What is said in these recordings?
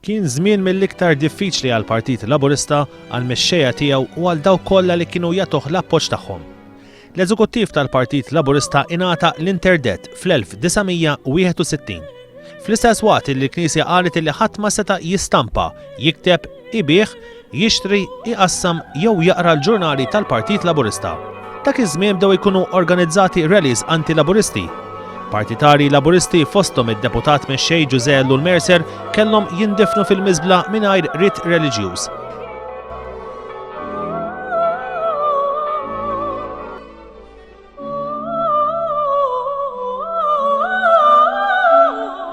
Kien żmien mill-iktar diffiċli għal Partit Laburista għal mexxejja tiegħu u għal dawk kollha li kienu jagħtuh l-appoġġ tagħhom. L-eżekuttiv tal-Partit Laburista ingħata l-interdet fl-1961. Fl-istess waqt li l-Knisja qalet li ħadd ma seta' jistampa, jikteb Ibigħ, jixtri, iqassam jew jaqra l-ġurnali tal-Partit Laburista. Dak iż-żmien bdew ikunu organizzati rallies anti-Laburisti. Partitarji Laburisti fosthom id-Deputat Mexxej Ġużè Ellul Mercer kellhom jindifnu fil-miżbla mingħajr rit reliġjuż.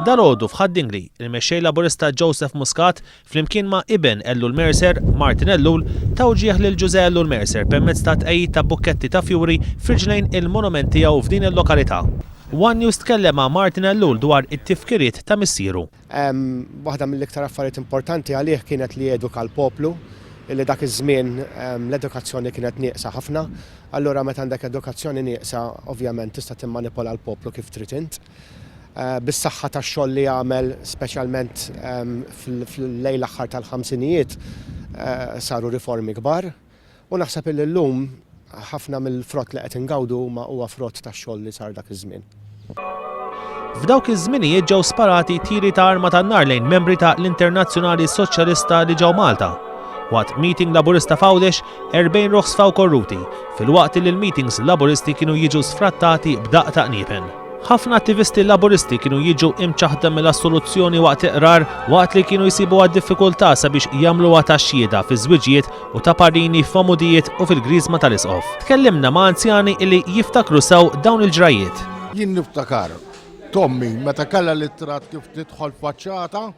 Dalgħodu f'Ħaddingli, il-Mexxej Laburista Joseph Muscat Flimkien ma' iben Ellul Mercer, Martin Ellul, ta wġieħ lil Ġużè Ellul Mercer permezz ta' tqegħid ta' bukketti ta' fjuri f'riġlejn il-monument tiegħu f'din il-lokalità. One News tkellem ma' Martin Ellul dwar it-tifkiriet ta' missieru. Waħda mill-iktar affarijiet importanti għalih kienet li eduka l-poplu, li dak iż-żmien l-edukazzjoni kienet nieqsa ħafna. Allura meta għandek edukazzjoni nieqsa, ovvjament tista' timmanipola l-poplu kif trid int. bis-saħħa tax-xogħol li għamel speċjalment fl-lejl l-aħħar tal-ħamsinijiet saru riformi kbar u naħseb illi llum ħafna mill-frott li qed ingawdu huma huwa frott tax-xogħol li sar dak iż-żmien. F'dawk iż-żminijiet ġew sparati tiri ta' arma tan-nar lejn membri ta' l-Internazzjonali Soċjalista li ġew Malta. Waqt meeting Laburista f'Għawdex, 40 ruħ sfaw korruti, filwaqt li l-meetings Laburisti kienu jiġu sfrattati b'daqq ta' qniepen. Ħafna attivisti Laburisti kienu jiġu imċaħda mill-assoluzzjoni waqt iqrar waqt li kienu jsibuha diffikultà sabiex jagħmluha ta' xhieda fi żwiġijiet u ta' parini f'għamudijiet u fil-griżma tal-isqof. Tkellimna ma' anzjani illi jiftakru sew dawn il-ġrajjiet. Jien niftakar t'ommi meta kellha l-ittra kif tidħol faċċata,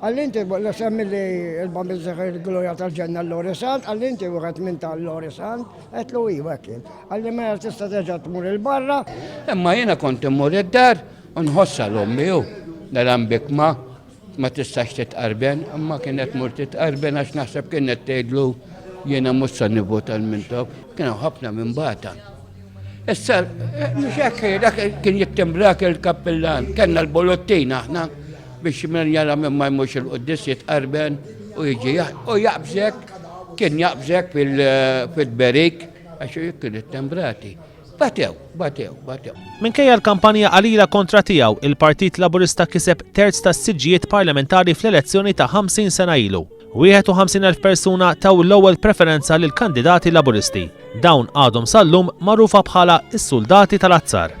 Għallinti, la semmi li l-bambi zeħi l-gloria tal-ġenna l-lori sant, għallinti u għet minn tal-lori sant, għetlu i għekkin. Għalli ma tista teġa tmur il-barra. Imma jena kont immur id-dar, unħossa l-ommi u naram bikma ma tistax titqarben, imma kienet mur titqarben għax naħseb kienet tgħidlu jena mussa nivotal mintok, kienu ħafna minn bata. Issa, mhux hekk, dak kien jittimbrak il-kappillan, kellna l-bolottin aħna biex minn jara minn ma jmux il-quddis jitqarben u jiġi u jaqbżek, kien jaqbżek fil-berik, għax kien it-tembrati. Batew, batew, batew. Minkejja l-kampanja qalila kontra tiegħu, il-Partit Laburista kiseb terz tas-siġġijiet parlamentari fl-elezzjoni ta' 50 sena ilu. 51,000 persuna taw l-ewwel preferenza lil kandidati Laburisti. Dawn għadhom sal-lum magħrufa bħala s-suldati tal-azzar.